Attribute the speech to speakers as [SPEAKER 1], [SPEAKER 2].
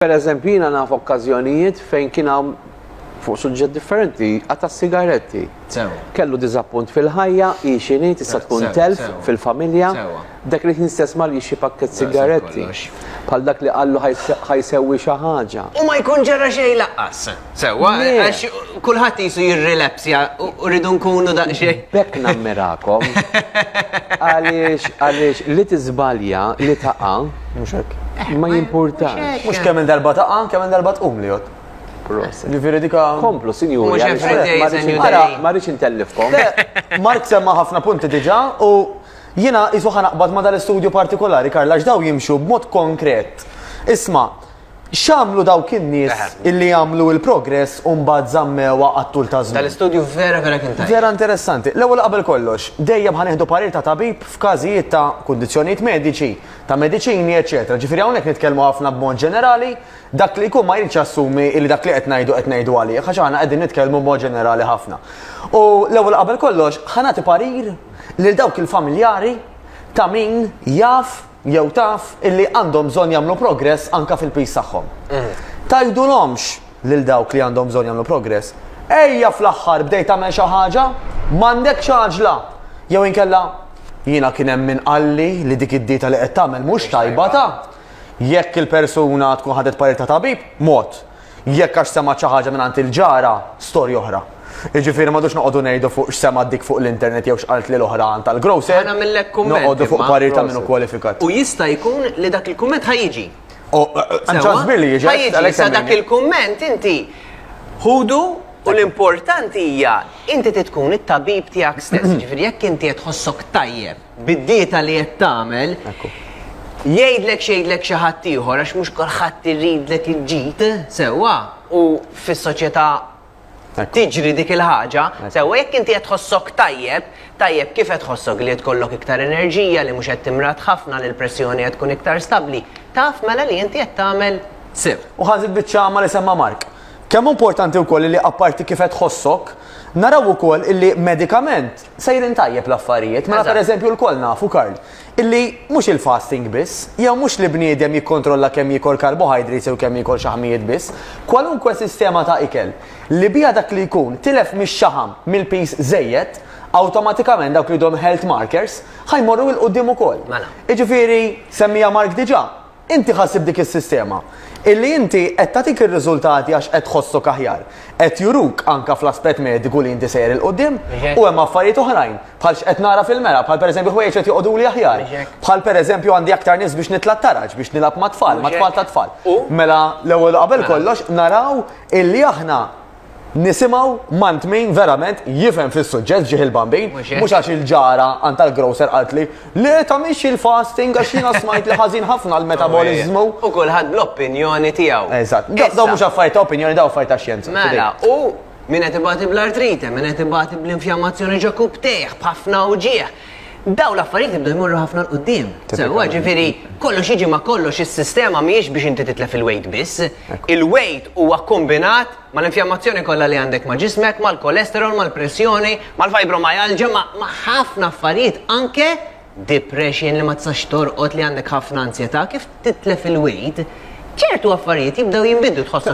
[SPEAKER 1] Pereżempju, jiena naf okkażjonijiet fejn kien hawn, fuq suġġett differenti, qata' s-sigaretti. Kellu diżappunt fil-ħajja, hi xi hi, tista' tkun telf fil-familja. Dak il-ħin stess mar jixtri pakkett sigaretti. Bħal dak li qallu ħa jsewwi xi ħaġa. U ma jkun ġara
[SPEAKER 2] xejn lanqas. Sewa, għax kulħadd jisu jirrilepsja u rridu nkunu daqxie. Bekk nammirakom.
[SPEAKER 1] Għaliex, għaliex, li tizbalja, li taqa. Muxek. Ma jimporta. Mux kemm il-darba taqa,
[SPEAKER 3] kemm il-darba tqum li jott. Ġifiri dika. Komplu, sinjur.
[SPEAKER 1] Mux everyday, sinjur. Ma rridx intellifkom. Mark semma
[SPEAKER 3] ħafna punti diġa u jina jisu ħanaqbad ma dal-istudju partikolari, Karla, ġdaw jimxu b'mod konkret. Isma, X'għamlu dawk in-nies illi għamlu il-progress u mbagħad żammewha għat-tul ta' żmien? Dal-istudju vera vera kien
[SPEAKER 2] tajjeb. Vera interessanti. L-ewwel
[SPEAKER 3] qabel kollox, dejjem ħa nieħdu parir ta' tabib f'każijiet ta' kundizzjonijiet mediċi, ta' mediċini, eċċetera. Ġifieri hawnhekk nitkellmu ħafna b'mod ġenerali, dak li jkun ma jridx jassumi li dak li qed ngħidu qed ngħidu għalih għax aħna qegħdin nitkellmu b'mod ġenerali ħafna. U l-ewwel qabel kollox ħa nagħti parir lil dawk il-familjari ta' min jaf jew taf illi għandhom bżonn jagħmlu progress anke fil-piż tagħhom. Tgħidulhomx lil dawk li għandhom bżonn jagħmlu progress, Ejja fl-aħħar bdejt tagħmel xi ħaġa, m'għandekx għaġla! Jew inkella, Jiena kien hemm min qalli li dik id-dieta li qed tagħmel mhux tajba ta! Jekk il-persuna tkun ħadet parir ta' tabib, mod. Jekk għax semgħet xi ħaġa mingħand il-ġara, storja oħra. Jiġifieri m'għadux noqogħdu ngħidu fuq x'semgħet dik fuq l-internet jew x'qalt lil oħra għand tal-grocer. Ħa nagħmillek kumment. Noqogħdu
[SPEAKER 2] fuq parir ta' min hu
[SPEAKER 3] kwalifikat. U jista' jkun
[SPEAKER 2] li dak il-kumment ħa jiġi. Oh, eh, eh, hemm ċans
[SPEAKER 3] kbir li jiġi. Ħa jiġi, sa dak
[SPEAKER 2] il-kumment inti ħudu U l-importanti hija inti titkun it-tabib tiegħek stess, ġifieri jekk inti qed tħossok tajjeb bid-dieta li qed tagħmel, jgħidlek xejdlek xi ħadd ieħor għax mhux kulħadd iridlek il-ġid sewwa u fis-soċjetà tiġri dik il-ħaġa, sewwa jekk inti qed tħossok tajjeb, tajjeb kif qed tħossok li qed tkollok iktar enerġija, li mhux qed timrat ħafna, li l-pressjoni qed tkun iktar stabbli, taf mela li inti qed tagħmel sew. U ħażit biċ-ċama
[SPEAKER 3] li semma Mark. Kemm importanti wkoll li apparti kif qed tħossok, naraw ukoll illi medikament sejrin tajjeb l-affarijiet. Mela pereżempju lkoll nafu, Karl, illi mhux il-fasting biss, jew mhux li bniedem jikkontrolla kemm jiekol karbohydrates jew kemm jiekol xaħmijiet biss, kwalunkwe sistema ta' ikel li biha dak li jkun tilef mix-xaħam, mill-piż żejjed, awtomatikament dawk li jduhom health markers, ħa jmorru 'l quddiem ukoll. Jiġifieri, semmiha Mark diġà, Inti ħassib dik is-sistema, illi inti qed tagħtik ir-riżultati għax qed tħossok aħjar, qed juruk anke fl-aspett mediku li inti sejjer 'il quddiem, u hemm affarijiet oħrajn, bħal x'qed nara fil-mera, bħal pereżempju ħwejjeġ qed joqogħduli aħjar, bħal pereżempju għandi aktar nies biex nitla' t-taraġ, biex nilgħab mat-tfal, mat-tfal tat-tfal. Mela l-ewwel u qabel kollox naraw illi aħna Nisimaw mant min verament jifhem fis-suġġett ġieħ il-bambin, mhux għax il-ġara għand tal-grocer qalt li le tagħmilx il-fasting għax jiena smajt li ħażin ħafna l-metaboliżmu. U kulħadd
[SPEAKER 2] bl-opinjoni tiegħu. Eżatt. Daw mhux affarijiet
[SPEAKER 3] ta' opinjoni daw affarijiet ta' xjenza. Mela, u
[SPEAKER 2] Min qed ibati bl-artrite, min qed ibati bl-infjammazzjoni ġo kubtejh, b'ħafna wġieħ, Dawn l-affarijiet jibdew jmorru ħafna l-qudiem. Sewwa ġifieri kollox jiġi ma' kollox is-sistema mhijiex biex inti titlef il-weight biss. Il-weight huwa kkombinat mal-infjammazzjoni kollha li għandek ma' ġismek, mal-cholesterol, mal-pressjoni, mal-fibromyalgia, ma' ħafna affarijiet anke depression li ma tistax torqod li għandek ħafna anzjetà. Kif titlef il-weight, ċertu affarijiet jibdew jinbidlu tħossok.